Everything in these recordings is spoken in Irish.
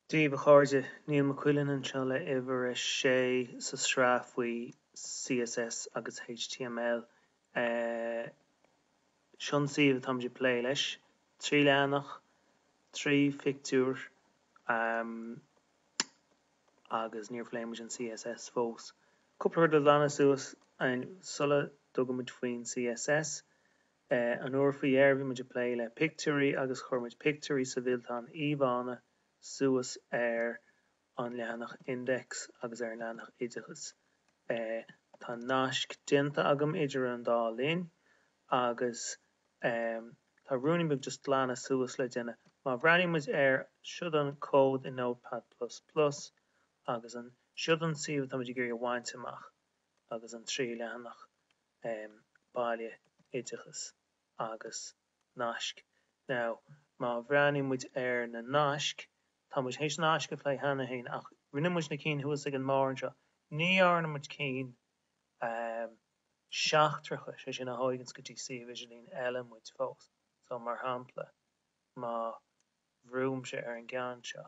Daoibh a chairde, Niall Mac Uidhilin anseo le uimhir a sé sa sraith faoi CSS agus HTML. Seo an suíomh atá muid ag plé leis, trí leathanach, trí phictiúr agus níor phlé muid an CSS fós. Cúpla rud le glanadh suas sula dtugann muid faoin CSS. An uair faoi dheireadh bhí muid ag plé le pictiúirí agus chuir muid pictiúirí sa bhfillteán íomhánna suas ar an leathanach index agus ar an leathanach oideachais. Tá naisc déanta agam idir an dá linn agus tá ruainne beag just glanadh suas le déanamh. Má bhreathnaíonn muid ar siod an cód i Notepad plus plus agus an siod an suíomh atá muid ag iarraidh a bhaint amach agus an trí leathanach, baile, oideachas agus naisc. Now, má bhreathnaíonn muid ar na naisc, tá muid théis naisc a phlé cheana féin ach rinne muid na cinn thuas ag an mbarr anseo, ní dhearna muid cinn seachtracha, sé sin a thóganns go dtí suíomh idirlín eile muid fós. So, mar shampla, má bhrúimse ar an gceann seo,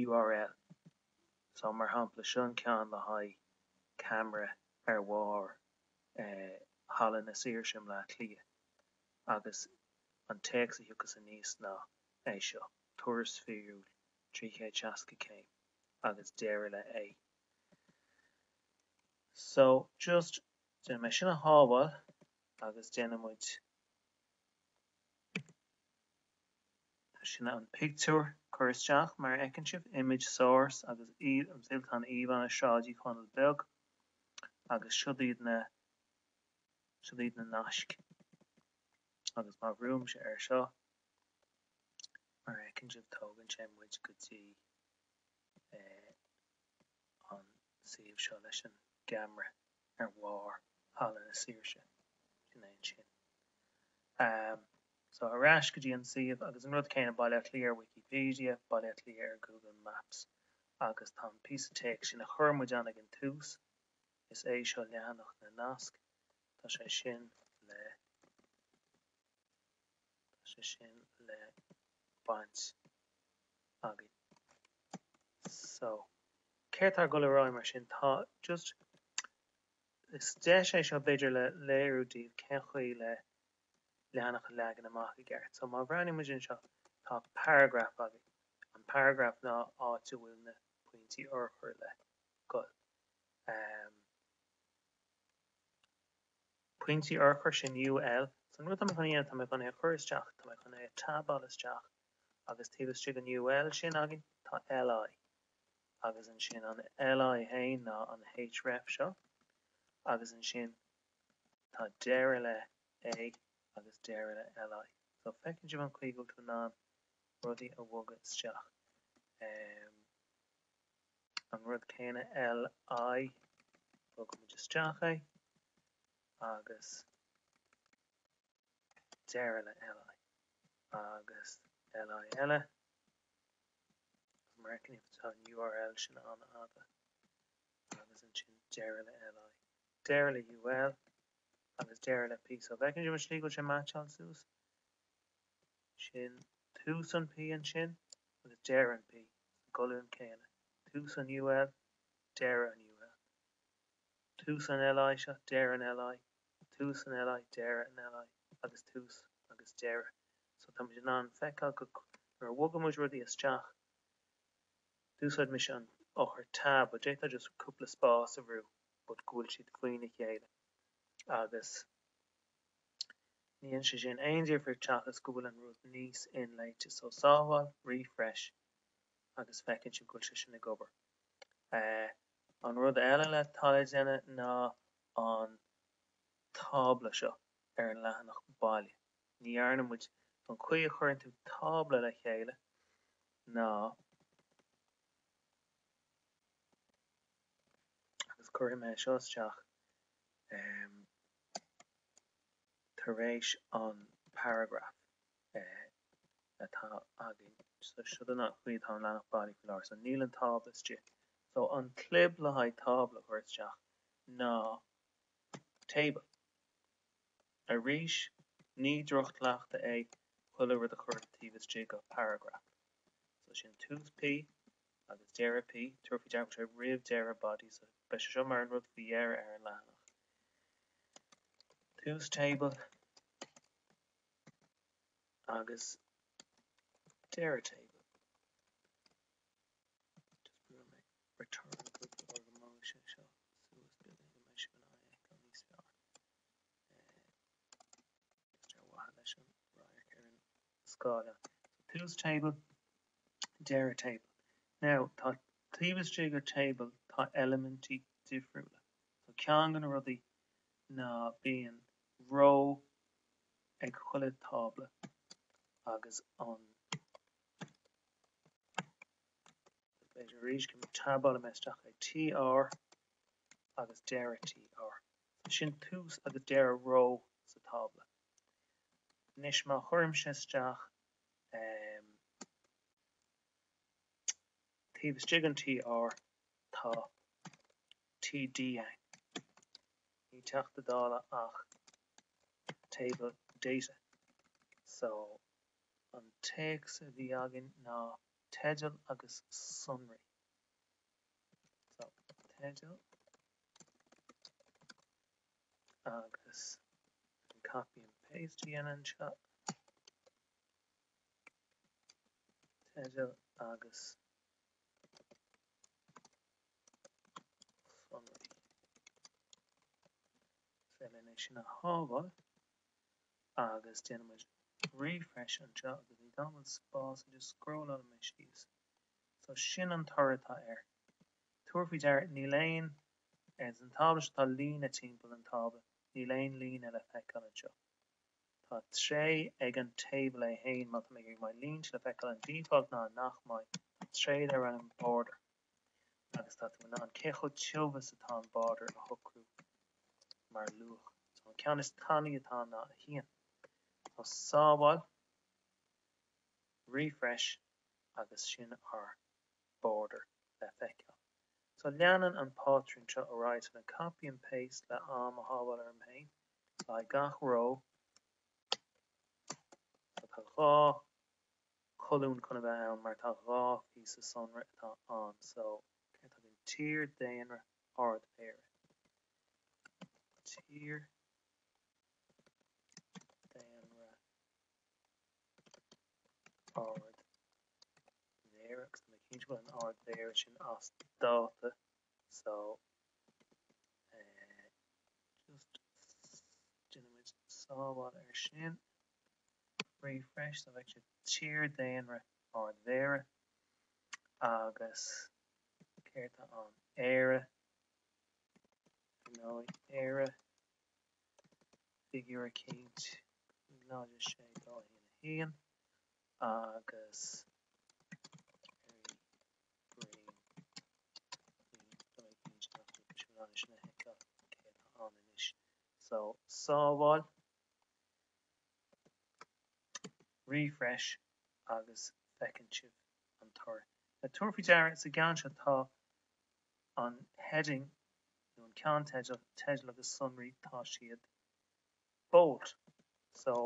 URL so mar shampla seo an ceann le haghaidh ceamara ar bharr Halla na Saoirse i mBleá Cliath agus an téacs a thiocfas aníos ná é seo, turas fíorúil 360 céim agus deireadh le A. So just déanfaidh mé sin a shábháil agus déanfaidh muid. Tá sin an pictiúr curtha isteach mar a fheiceann sibh, image source, agus siod an fillteán íomhánna Sráid Uí Chonaill Beag agus siod iad na siod iad na naisc agus má bhrúimse air seo, mar a fheiceann sibh, tógann sé muid go dtí. an suíomh seo leis an gceamara ar bharr Halla na Saoirse, sin é ansin. So ar ais go dtí an suíomh agus an rud céanna, Baile Átha Cliath ar Wikipedia, Baile Átha Cliath ar Google Maps agus tá an píosa téacs sin a chuir muid ann ag an tús, is é seo leathanach na nasc, tá sé sin le. tá sé sin le baint againn. So, céard atá ag goil ar aghaidh mar sin? Tá just, is deis é seo b'fhéidir le léiriú daoibh cén chaoi le leathanach a leagan amach i gceart. So, má bhreathnaíonn muid anseo, tá paragraf againn. An paragraf ná áit a bhfuil na pointí urchair le goil. pointí urchair sin UL so an rud tá mé chun é tá mé chun é a chur isteach tá mé chun é a tabáil isteach agus taobh istigh den UL sin againn tá LI agus ansin an LI fhéin ná an href seo agus ansin tá deireadh le A agus deireadh le LI so feiceann sibh an chaoi go bhfuil tú in ann rudaí a bhogadh isteach. an rud céanna LI, bogfaidh muid isteach é agus deireadh le LI agus LI eile mar a fheiceann sibh tá an url sin an-fhada agus ansin deireadh le LI, deireadh le UL agus deireadh le P. So bhfeiceann sibh an slí go bhfuil sé ag meaitseáil suas. sin tús an P ansin agus deireadh an P sa gcolún céanna, tús an UL, deireadh an UL, tús an LI seo, deireadh an LI, tús an LI, deireadh an LI, agus tús agus deireadh. So tá muid in ann feiceáil go nuair a bhogann muid rudaí isteach, d'úsáid mise an eochair tab but d'fhéadfá just cúpla spás a bhrú but go bhfuil siad faoina chéile agus. Ní dhéanann sé sin aon difríocht seachas go bhfuil an rud níos inléite. So sábháil, refresh agus feiceann sibh go bhfuil sé sin ag obair. An rud eile le atá le déanamh ná an tábla seo ar an leathanach baile. Ní dhearna muid, an chaoi a chuireann tú tábla le chéile ná, agus cuirfidh mé seo isteach, tar éis an paragraf atá againn so siod an chaoi atá an leathanach baile faoi láthair so níl an tábla istigh so an clib le haghaidh tábla a chur isteach ná table arís ní droch-chleachtadh é chuile rud a chur taobh istigh de paragraf so sin tús P agus deireadh P. Tabhair faoi deara tá sé roimh deireadh Body so beidh sé seo mar an rud faoi dheireadh ar an leathanach. Tús table agus deireadh table. Just brúfaidh mé Return cúpla uair go mbeadh sé seo suas beagán go mbeidh sibh in ann é a fheiceáil níos fearr. Eh, is dearmhadha leis an radharc ar an scála. Tá tús table, deireadh table. Now tá taobh istigh dár table tá eilimintí difriúla. So ceann de na rudaí ná bíonn row ag chuile tábla agus an b'fhéidir arís go tabálfaidh mé isteach ag TR agus deireadh TR. So sin tús agus deireadh row sa tábla. Anois má chuirimse isteach taobh istigh an TR tá TD ann. Ní Teachta Dála ach Table Data. So an téacs a bhí againn ná Teideal agus Sonraí. So Teideal agus an copy and paste a dhéanamh anseo, teideal agus sonraí. Féidir linn é sin a shábháil agus déanaimid refresh anseo agus níl dóthain spás just scrólálfaidh mé síos. So sin an toradh atá air. Tabhair faoi deara níl aon Ins an tábla seo tá líne timpeall an tábla. Níl aon líne le feiceáil anseo. Tá tréith ag an table é fhéin má tá mé ag iarraidh go mbeidh línte le feiceáil an default ná nach mbeidh. Tá tréith darb ainm border agus tá tú in ann cé chomh tiubh is atá an border a shocrú mar luach. So an ceann is tanaí atá ná 1. So sábháil, refresh agus sin ár border le feiceáil. So leanann an pátrún seo ar aghaidh, so an copy and paste le am a shábháil orm féin, le haghaidh gach row, so tá dhá cholún chun a bheith ann mar tá dhá phíosa sonraí atá ann, so céard tá againn, tír, daonra, Ard-Mhéara, tír, daonra, Ard-Mhéara agus tá mé cinnte go bhfuil an Ard-Mhéara sin as dáta so just déanaimid sábháil ar sin refresh so bheadh sé tír daonra Ard-Mhéara agus céard tá ann Éire, ar ndóigh, Éire. figiúr 106 201 agus earraí bréan faoin dóigh a mbíonn siad á chur leis an bhfearais le feiceáil cé atá ann anois so sábháil refresh agus feiceann sibh an toradh. Le tabhair faoi deara, sa gceann seo tá. an heading nó an ceannteideal agus sonraí, tá siad bold. So,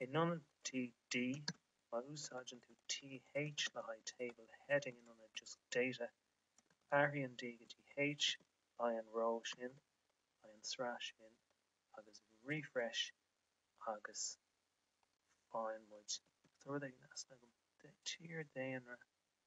in ionad td, má úsáideann tú th le haghaidh table, heading in ionad just data, athraigh an d go dtí h, beidh an row sin, beidh an sraith sin, agus refresh agus faigheann muide. Tá rud éigin in easnamh agam. Tír, daonra.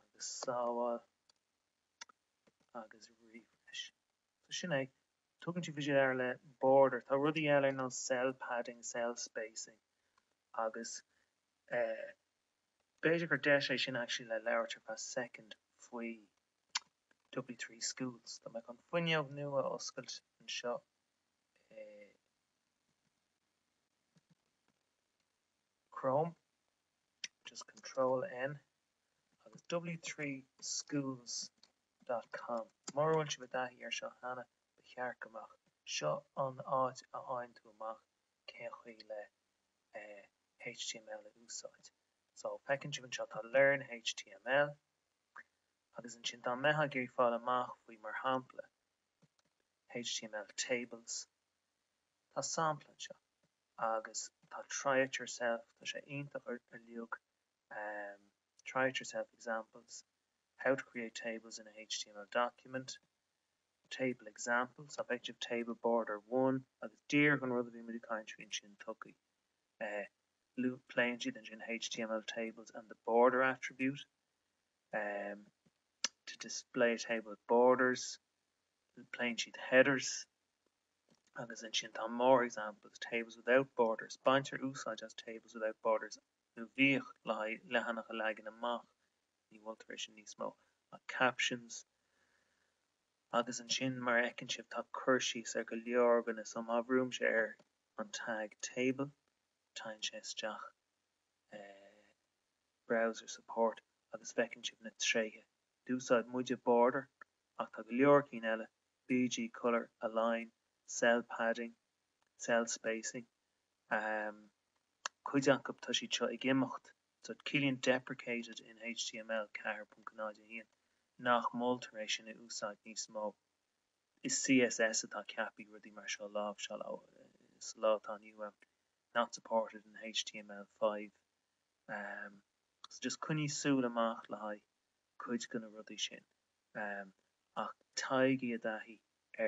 agus sábháil agus refresh. So sin é. Tugann tú faoi deara le border. Tá rudaí eile ar nós cell padding, cell spacing agus eh b'fhéidir gur deis é sin actually le labhairt ar feadh soicind faoi W three schools. Tá mé chun fuinneog nua a oscailt anseo i Chrome. just control N agus w3schools dot com Mura bhfuil sibh i dtaithí air seo cheana, ba cheart go mbeadh. Seo an áit a fhaigheann tú amach cén chaoi le html a úsáid. So, feiceann sibh anseo, tá learn html agus ansin dá mbeitheá ag iarraidh fáil amach faoi mar shampla, html tables, tá sampla anseo. agus tá try it yourself, tá sé iontach ar leith try it yourself examples, how to create tables in a html document, table examples, féach table border one agus díreach an rud a bhí muid ag caint faoi ansin okay pléann siad ansin html tables and the border attribute to display a table with borders pléann siad headers agus ansin tá more examples, Tables Without Borders, Baintear úsáid as Tables Without Borders nó bhíodh le leathanach a leagan amach, ní mholtar é sin níos mó, ach captions agus ansin mar a fheiceann sibh tá cur síos ar go leor dhóibh so má bhrúimse ar an tag table téann sé isteach i browser support agus feiceann sibh na tréithe, d'úsáid muide border ach tá go leor cinn eile, BG Colour, Align, Cell Padding, Cell Spacing, ahem. Cuid acu, tá siad seo ag imeacht, so ciallaíonn deprecated in HTML 4.01 nach moltar é sin a úsáid níos mó. Is CSS atá ceaptha rudaí mar seo a láimhseáil sa lá atá inniu ann, Not Supported in HTML5, ahem. So just coinnigh súil amach le haghaidh. cuid de na rudaí sin ach téigí i dtaithí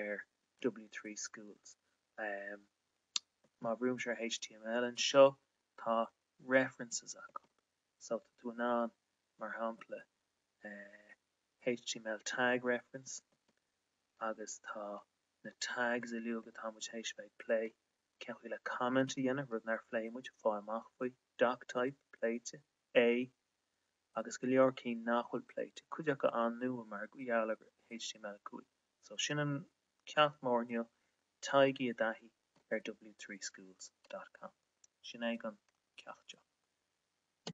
ar W3 Schools. Má bhrúimse ar html anseo, tá references acu so tá tú in ann, mar shampla, html tag reference agus tá na tags uiliug atá muid th'éis bheith ag plé, cén chaoi le comment a dhéanamh, rud nár phléigh muid, fáil amach faoi, doctype, pléite, a. agus go leor cinn nach bhfuil pléite, cuid acu an-nua mar gheall ar HTML5. So, sin an ceacht mór inniu, téigí i dtaithí ar W3 Schools. com. Sin é an ceacht seo.